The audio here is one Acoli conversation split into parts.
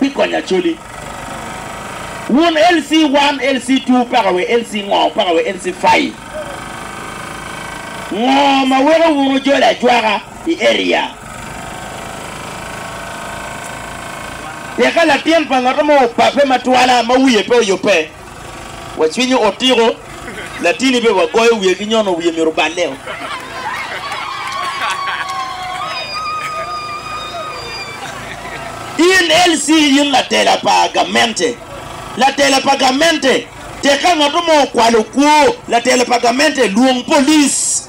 pi konyo Acholi. Wun LC one, LC two, paka we LC ngo, paka we LC five, ngo ma weko wun wujolo ajwaka i area? Tika latin pa ngat mo opape matwala ma wiye pe oyubbe? Wa cwinyo otiko latini be wa goyo wiye ki nyono wiye myero oballe o. In LC in latela pa gamente. Latela pa gamente tek ka ngat mo okwalo kwo latela pa gamente lwong police.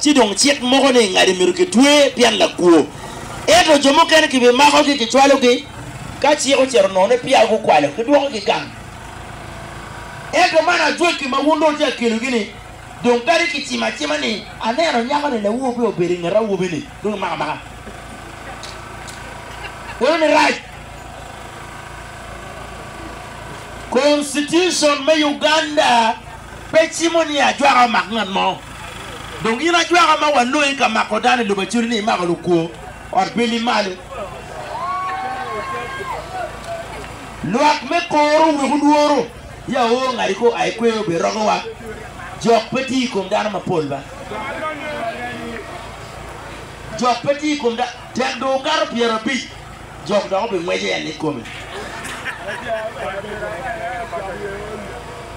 Ci dong cik moko ni ingadi myero kitwe pien lakwo, ento jo mukene kibimakogi kicwalogi ka cik ocito nongo ni peya gukwalo, kidwokogi gang. Ento man ajwaki ma wun dong wutye ka kelogi ni, dong kadi kicimo acima ni, Aneno nyako-ni lawobi obedo i nget awobi-ni, dong imako amaka. Kono ni rac. Constitution me Uganda. Pe cimo ni ajwaka omak ngat mo. Dong gin ajwaka ma walongi ka mako dano i lobo acwali ni imako lukwo ot bili malo. Lwak me koro weko lworo ya oo ngati ko ai kweyo obe rogowa. Jok pe tye i kom dano mapol ba. Jok pe tye i kom dano tek dong okato pyerabic. jok dok obingweco en i kome.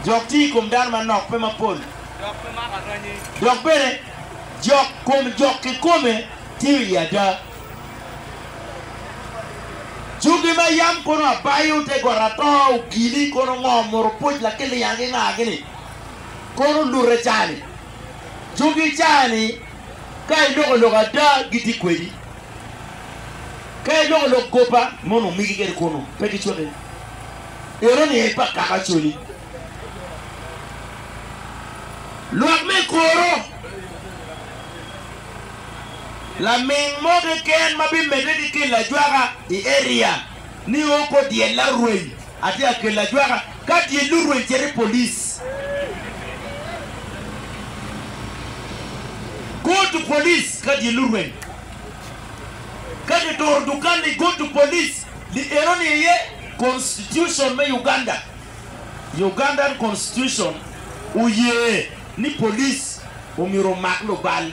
Jok tye i kom dano manok, pe mapol, dok bene jok kom jok kikome tiyo iye ada. Jogi ma yam kono abayo te got ato ogili kono ngo muru pwoc lakiliya ki nga gini kono lute cani. Jogi cani ka iloko lok ada gitye kwedi. Ka iloko lok goba mono migi geri kunu, pe gicwaki. Eno ni pa kaka coli. Lwak me kuro. Laming mo keken ma bimedde ki kelo ajwaka i area ni o ko dyella rweny. Atye ka kelo ajwaka ka tye lurweny cere police go to police ka tye lurweny ka ki turo dukan ni go to police li eno ni aye constitution me Uganda Ugandan constitution oye ni police omyero omak lubal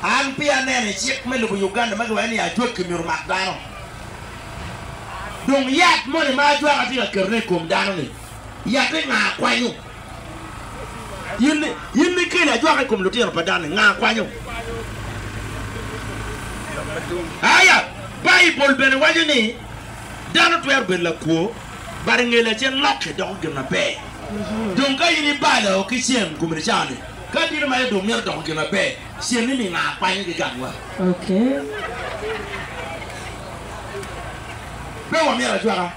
an peya aneno icik me lobo Uganda ma giwaco ni ajwaki myero omak dano. Dong yat moni ma ajwaka tye ka ketone i kom dano-ni, yatte nga kwanyo? In nikeli ajwaka i kom lutino pa dano-ni, nga kwanyo? Aya, Baibul bene waco ni dano twero bedo lakwo, bade nge lacen lokke doko gin maber. Dong ka in ibalo ki cen komi nicawa-ni, ka tini ma idong mito doko gin maber, Cente ni nga kwanyo gi gang wa. Pe wa myero ajwaka.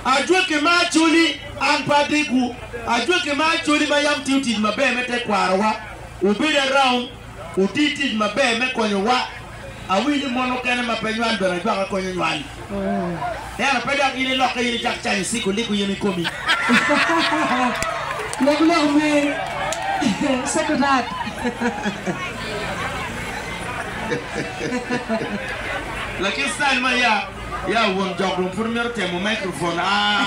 Ajwaki me Acholi an pe adegwu. Ajwaki me Acholi ma yam tiyo tic maber me tekwaro wa. Wubedo around, wuti tic maber me konyo wa Awinyo mon mukene ma pe nywal bene ajwaka konyo nywal. Dero pe dok in ilokke in icak canyo ciko liko yen ikomi. Lok lok mer secretad. Lakin style ma ya ya won jok dong pud mito temo microphone aah.